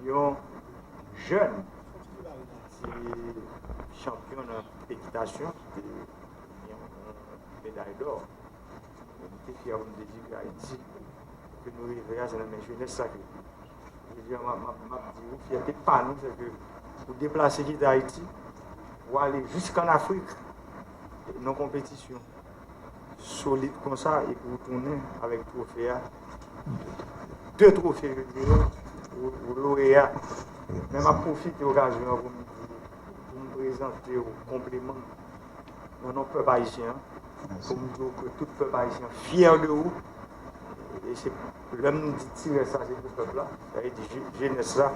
Yon jèn ki te chanpyon nan ekitasyon ki te gen yon meday dò. Nou te fyè pou nou te di ke Ayiti ke nou reve a se nan men jenès sa ke li. Jodi a m ap di ou fyète pa nou se ke ou deplase kite Ayiti pou ale jisk an Afrik. Non konpetisyon. solid konsa epi ou tounen avèk trofe a, 2 trofe yo ye yo, ou loreya. Men map pwofite okazyon an pou m di, pou m prezante ou konpliman m nan non pèp ayisyen an, pou m di ou ke tout pèp ayisyen an fyè de ou, e se. Lè m di ti rès la se pou pèp la, sa vle di jenès la,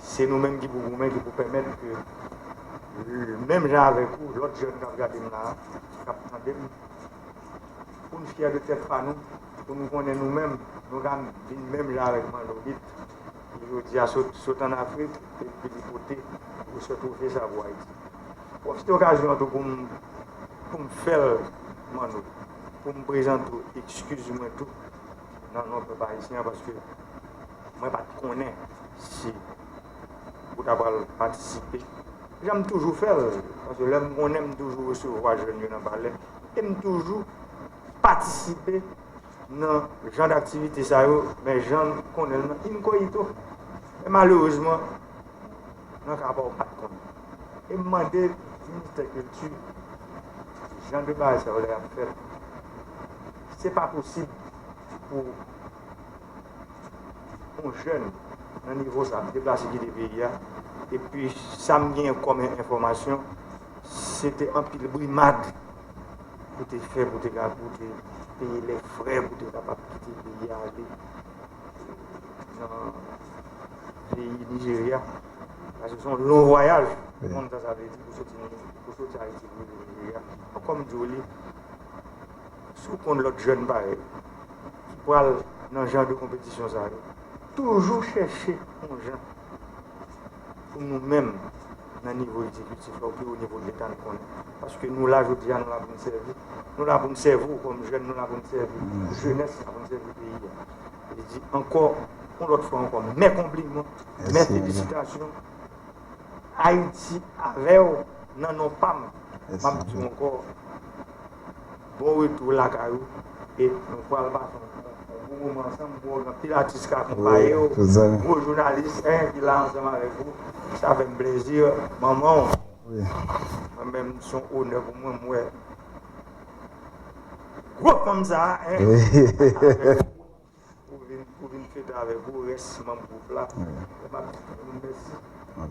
se nou menm ki pou goumen, ki pou pèmèt ke menm jan avèk ou, lòt jèn k ap gade m la a, k ap tande m, pou n fyè de tèt pa nou, pou nou konnen nou menm, nou ka vin menm jan avèk Manolite ki jodi a sot ann Afrik epi li pote gwosè twofe sa pou Ayiti. M pwofite okazyon an tou pou m fè l Manno. Pou m prezante w ekskiz mwen tou nan non pèp ayisyen an paske mwen pa t konnen si ou ta pral patisipe jan m toujou fè l paske lè m konnen m toujou resevwa jèn yo nan palè e m toujou patisipe nan jan daktivite sa yo men jan n konnen l nan inkoyito men malerezman nan ka pa w pat konn e m mande ministè kilti jan de bagay sa yo lè y ap fèt se pa posib pou yon jèn nan nivo sa deplase kite peyi a epi sa m gen kòm enfòmasyon se te anpil brimad pou te fè pou te ka pou te peye lè frè pou te kapab kite peyi a ale. nan peyi Nijerya. Sa se son lon vwayaj. Ou konn sa sa vle di pou soti ni pou soti Ayiti pou rive Nijerya. Donk kòm di w li, si w konn lòt jèn parèy ki pral nan jan de konpetisyon sa yo, toujou chèche yon jan. pou nou menm nan nivo egzekitif la oubyen onivo leta n konnen. Paske nou la jodi a, nou la pou n sèvi. Nou la pou n sèvi w kòm jèn, nou la pou n sèvi jenès la, pou n sèvi peyi a. Li di ankò, yon lòt fwa ankò, mè konpliman, mè felisitasyon. Ayiti avè w nan non pa m. M ap di w ankò. Bon retou lakay ou e nou pral pase yon bon moman ansanm bro gen anpil atis ka akonpaye ou gwo jounalis hein ki la ansanm avèk ou sa fèm plezi manman ou mwen menm son onè pou mwen m wè gwo fanm sa hein. Pou vin fete avèk ou rès manm gwoup la e map di tout moun mèsi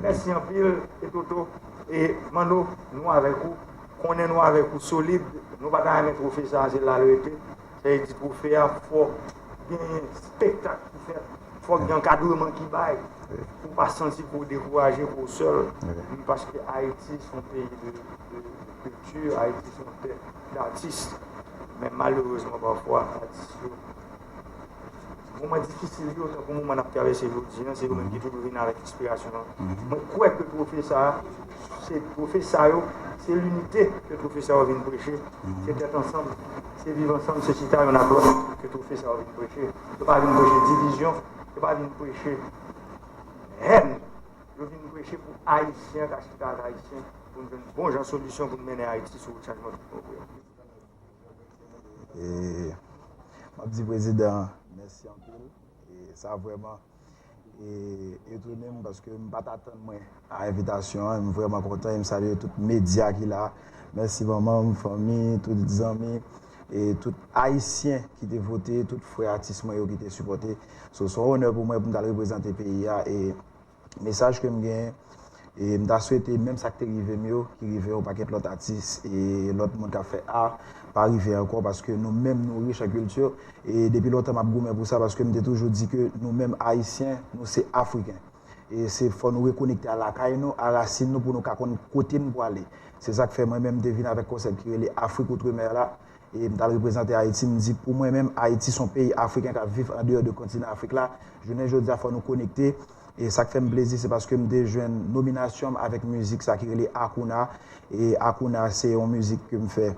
mèsi anpil e Toto e Manno nou avèk ou konnen nou avèk ou solid nou pa ta renmen trofe sa se la l rete sa vle di trofe a fòk gen spektak ki fèt fòk gen ankadreman ki bay pou w pa santi pou w dekouraje pou w sèl paske Ayiti son peyi de Kilti Ayiti se yon tè datis, men malerezman pafwa atis yo, moman difisil yo, tankou moman nap travèse jodi an, se yo menm ki toujou vin avèk enspirasyon an. Mwen kwè ke twofe sa a, se twofe sa yo, se linite ke twofe sa yo vin preche, se tèt ansanm, se viv ansanm, se chita yonn ak lòt ke twofe sa yo vin preche. Yo pa vin preche divizyon, yo pa vin preche hèn, yo vin preche pou Ayisyen ka chita ak Ayisyen. Pou n jwenn bon jan solisyon pou n mennen Ayiti sou wout chanjman tout bon vre. M ap di prezidan an mèsi anpil. Sa vrèman etone m paske m pa t atann mwen a envitasyon an. M vrèman kontan e m salye tout medya ki la. Mèsi manman m, fanmi, tout zanmi e tout Ayisyen ki te vote, tout frè atis mwen yo ki te sipòte. So s on onè pou mwen pou m t al reprezante peyi a e Mesaj ke m gen, e m ta swete menm sa k te rive m yo, ki rive yon pakèt lòt atis e lòt moun k ap fè art, pa rive ankò paske nou menm nou rich an kilti e depi lontan m ap goumen pou sa paske m te toujou di ke nou menm Ayisyen, nou se Afriken. E se fò nou rekonekte a lakay nou, a rasin nou pou nou ka konn kote n pwale. Se sa k fè mwen menm m te vin avèk konsèp ki rele Afrique Outre-Mer la, e m t al reprezante Ayiti, m di pou mwen menm Ayiti s on peyi Afriken k ap viv andeyò de kontinan Afrik la, jounen jodi a fò nou konekte, e sa k fè m plezi se paske m te jwenn nominasyon m avèk mizik sa ki rele Akouna, e Akouna se yon mizik ke m fè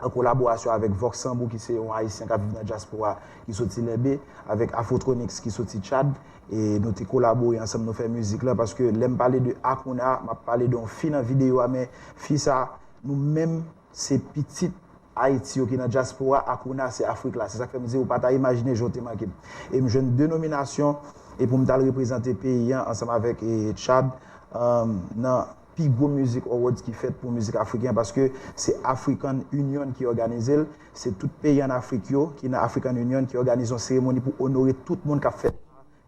an kolaborasyon avèk Vox Sambou ki se yon Ayisyen k ap viv nan dyaspora ki soti Lenbe, avèk Afrotronix ki soti Tchad, e nou te kolabore ansanm nou fè mizik la, paske lè m pale de Akouna m ap pale de yon fi nan videyo a men fi sa nou menm. se pitit Ayiti yo ki nan dyaspora ak ou nase Afrik la. Se sa k fè m di ou pa ta imajine jan w te manke m. E m jwenn 2 nominasyon e pou m t al reprezante peyi an ansanm avèk Tchad nan pi gwo Music Awards ki fèt pou mizik afriken an paske se African Union ki òganize l. Se tout peyi ann Afrik yo ki nan African Union ki òganize yon seremoni pou onore tout moun k ap fè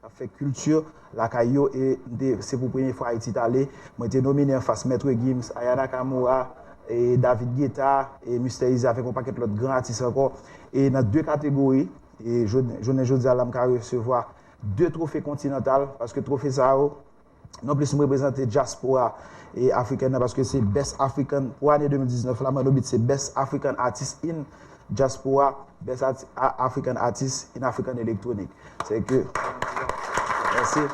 k ap fè kilti lakay yo e m te se pou premye fwa Ayiti t ale mwen te nomine anfas Maitre Gims, Aya Nakamura, David Guetta, Mister Eazy avèk yon pakèt lòt gran atis ankò e nan 2 kategori e jounen jodi a la m ka resevwa 2 twofe kontinantal paske twofe sa yo Non plis m reprezante dyaspora afrikèn nan paske se Best African pou ane 2019 la Manno Beat se Best African Artist in Diaspora Best African Artist in African Electronic Se ke Mèsi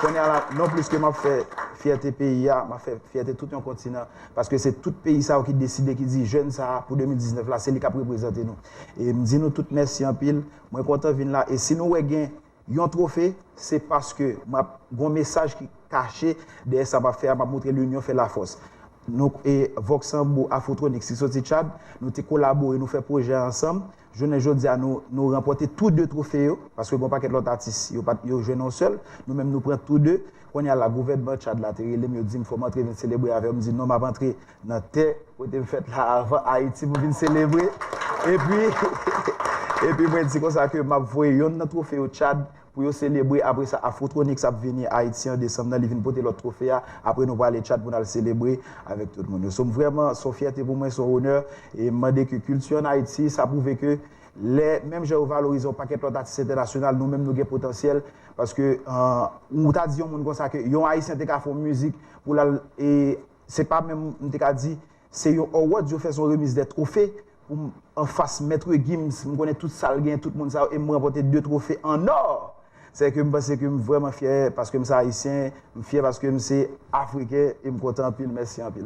Kounye a la non plis ke m ap fè fyète peyi a m ap fè fyète tout yon kontinan paske se tout peyi sa yo ki deside ki di jèn sa pou 2019 la se li k ap reprezante nou e m di nou tout mèsi anpil mwen kontan vin la e si nou wè gen Yon trofe, se paske map gon mesaj ki kache dèyè sa map fè a, map moutre linyon fè lafòs. Nou e Vox Sanbou Afrotronics ki soti Tchad, nou te kolabore nou fè pwojè ansanm, jounen jodi a nou nou ranpòte tou 2 trofe yo, paske gon pakèt lòt atis yo pat yo jwenn yon sèl, nou menm nou pran tou 2, kounye a la gouvènman Tchad la te relem yo dim fòm antre vin selebre avèm, m di non map antre Nan tè kote m fèt la avan Ayiti pou vin selebre. Epi epi mwen di konsa ke m ap voye yonn nan twofe yo Tchad pou yo selebre. Apre sa Afrotronics ap vini Ayiti an desanm nan, li vin pote lòt twofe a. Apre nou prale Tchad pou n al selebre avèk tout moun yo. So m vrèman, s on fyète pou mwen, s on onè. E m mande ke kilti ann Ayiti, sa pwouve ke lè menm jan yo valorize yon pakèt lòt atis entènasyonal, nou menm nou gen potansyèl. Paske ou ta di yon moun konsa ke yon Ayisyen te ka fè yon mizik pou l al e. se pa menm, m te ka di, se yon awards, yo fè son remise de trophée pou m an fas Maître Gims, m konnen tout sa l gen, tout moun sa yo, e m ranpòte 2 trophées en or! Sè ke m panse ke m vrèman fyè paske m se Ayisyen, m fyè paske m se Afriken e m kontan anpil, mèsi anpil.